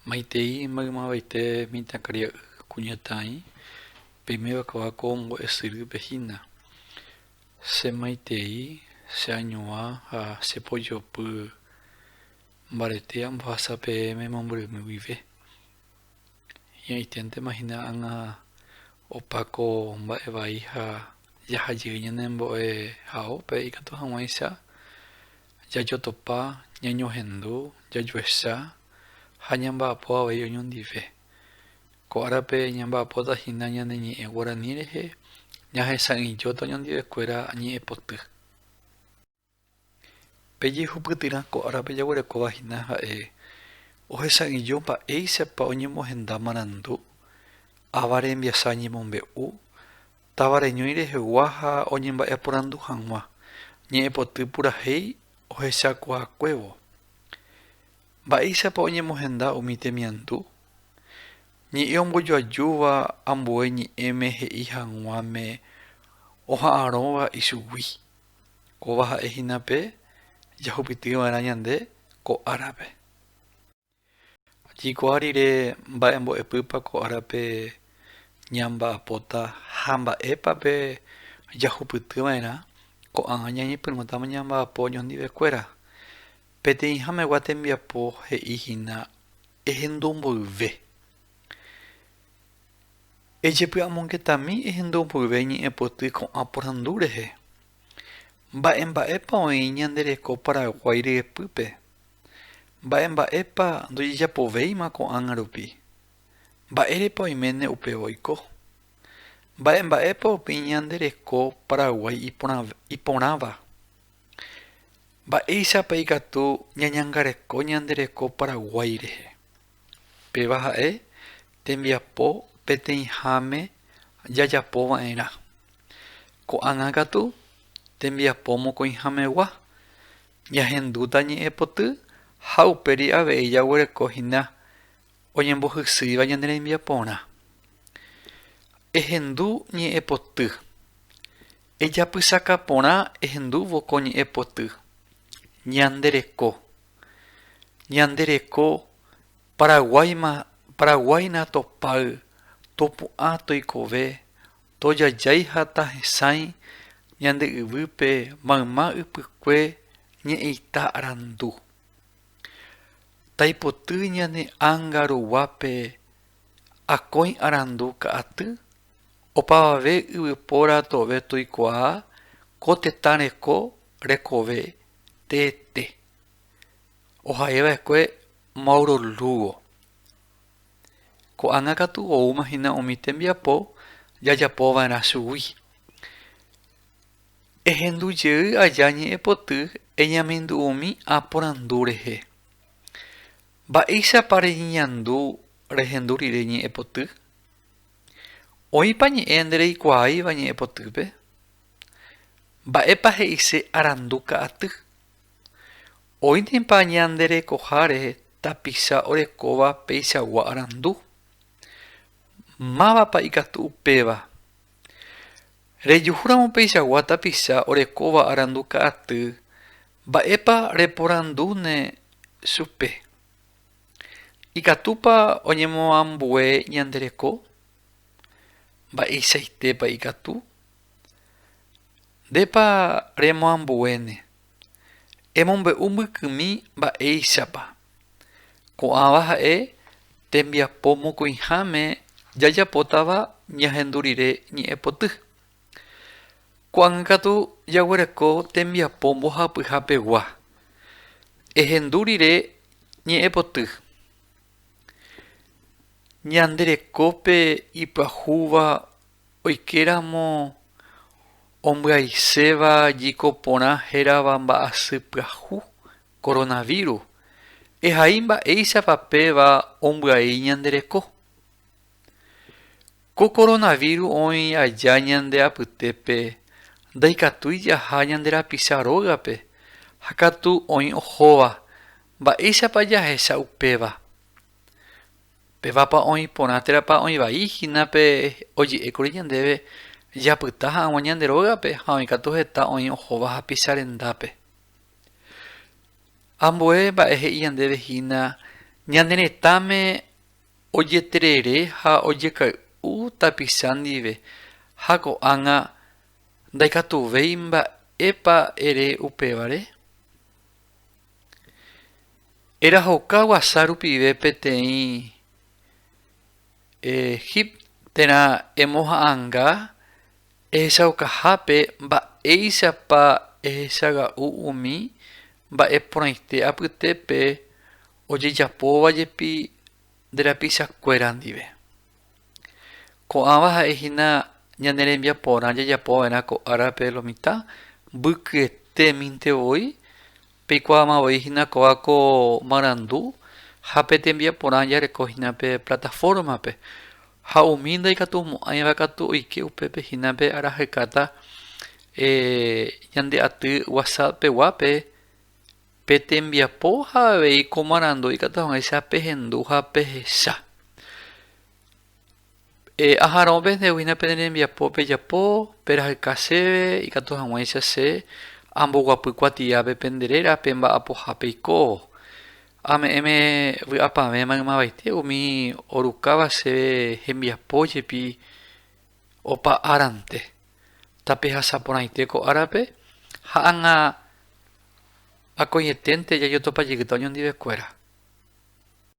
Maitei maymaveite mitãkaria'y kuñataĩ, peime vakava ko mbo'e syrýpe hína. Che maitei, che añuã ha che pojopy mbarete ambohasa peẽme mombyrymi guive. Hi'ãiténtema hína ág̃a opa ko mba'e vai ha jaha jey ñane mbo'e haópe ikatu hag̃uáicha jajotopa, ñañohendu, jajuecha ha ñamba'apo avei oñondive. Ko árape ñamba'apóta hína ñane ñe'ẽ guarani rehe, ñahesa'ỹijóta oñondivekuéra ñe'ẽpoty. Pe jehupytyrã ko árape jaguerekóva hína ha'e ohesa'ỹijo mba'éichapa oñemohenda marandu, ava rembiasa ñemombe'u, Táva reñói rehegua ha oñemba'eporandu hag̃ua, ñe'ẽpoty purahéi ohechakuaakuévo. Mba'éichapa oñemohenda umi temiandu? Ñe'ẽ ombojoajúva ambue ñe'ẽme he'i hag̃uáme oha'arõva ichugui, kóva ha'e hína pe jahupytyva'erã ñande ko árape. Jaikuaa rire mba'e mbo'epýpa ko árape ñamba'apóta ha mba'épa pe jahupyty va'erã, ko'ág̃a ñañepyrũtama ñamba'apo oñondive kuéra. Peteĩ hamegua tembiapo he'i hína ehendu mboyve. Ejepy'amongetami ehendu mboyve ñe'ẽpoty ko'ã porandu rehe. Mba'emba'épa oĩ ñande reko Paraguái ryepýpe? Mba'e mba'épa ndojejapovéima ko'ág̃a rupi? Mba'érepa oiméne upéva oiko? Mba'e mba'épa upéi ñande reko Paraguái iporãva? Mba'éichapa ikatu ñañangareko ñande reko Paraguái rehe? Péva ha'e tembiapo peteĩháme jajapo va'erã. Ko'ág̃a katu tembiapo mokõihamegua, Jahendúta ñe'ẽpoty ha upéri avei jaguereko hína oñembohysýiva ñane rembiaporã. Ehendu ñe'ẽpoty. Ejapysaka porã ehendúvo ko ñe'ẽpoty. Ñande reko. Ñande reko Paraguáima Paraguáina topáy topu'ã toikove Tojajái ha tahesãi ñande yvýpe mayma ypykue ñe'ẽita arandu. Taipoty ñane ánga ruguápe akõi arandu ka'aty, opavave yvypóra tove toikuaa ko tetã reko rekove teete. Oha'eva'ekue Mauro Lugo. Ko'ág̃a katu oúma hína umi tembiapo jajapo va'erã chugui. Ehendu jey aja ñe'ẽpoty eñamindu'umi aporandu rehe. Mba'éichapa reñeñandu rehendu rire ñe'ẽpoty? Oĩpa ñe'ẽ ndereikuaáiva ñe'ẽpotýpe? Mba'épa he'ise arandu ka'aty? Oĩnepa ñande rekoháre tapicha orekóva peichagua arandu? Mávapa ikatu upéva? Rejuhúramo peichagua tapicha orekóva arandu ka'aty, mba'épa reporandúne chupe? Ikatúpa oñemoambue ñande reko? Mba'eichaitépa ikatu? Ndépa remoambuéne? Emombe'u mbykymi mba'éichapa. Ko'ãva ha'e tembiapo mokõiháme jajapótava ñahendu rire ñe'ẽpoty. Ko'ág̃a katu jaguereko tembiapo mbohapyha pegua, ehendu rire ñe'ẽpoty. Ñande rekópe ipyahúva Oikéramo ombyaiséva jiko porã hérava mba'asy pyahu, coronavirus, ehai mba'éichapa péva ombyai ñande reko. Ko coronavirus oĩ aja ñande apytépe ndaikatúi jaha ñande rapicha rógape ha katu oĩ ohóva mba'éichapa jahecha upéva. Pévapa oĩ porã térãpa oĩ vai hína pe oje'ékuri ñandéve japyta hag̃ua ñande rógape ha oĩ katu heta oĩ ohóva hapicha rendápe. Ambue mba'e he'i ñandéve hína ñane retãme ojeterere ha ojekay'u tapicha ndive ha ko'ág̃a ndaikatuvéi mba'épa ere upévare. Erahoka guasa rupive peteĩ Egip térã emoha'ãnga ehechaukahápe mba'éichapa ehechaga'u umi mba'e porãite apytépe ojejapóva jepi nde rapichakuéra ndive. Ko'ãva ha'e hína ñane rembiaporã jajapo va'erã ko árape lo mitã, mbykyetéminte voi, peikuaáma voi hína kóva ko marandu ha pe tembiaporã jareko hína pe platafórmape. Ha umi ndaikatumo'ãiva katu oike upépe hína pe arahekáta ñande aty WhatsApp peguápe. Pe tembiapo ha avei ko marandu ikatu hag̃uáicha pehendu ha pehecha. Aharõ pendeguína pene rembiapo pejapo, perahyka chéve ikatu hag̃uáicha che amboguapy kuatiápe pende réra pe mba'apoha peikóvo. Ame'ẽme vy'apavẽ maymavaite umi orukáva chéve hembiapo jepi opa árante. Tapehasaporãite ko árape ha ág̃a. Akóietente jajotopajeygyta oñondivekuéra.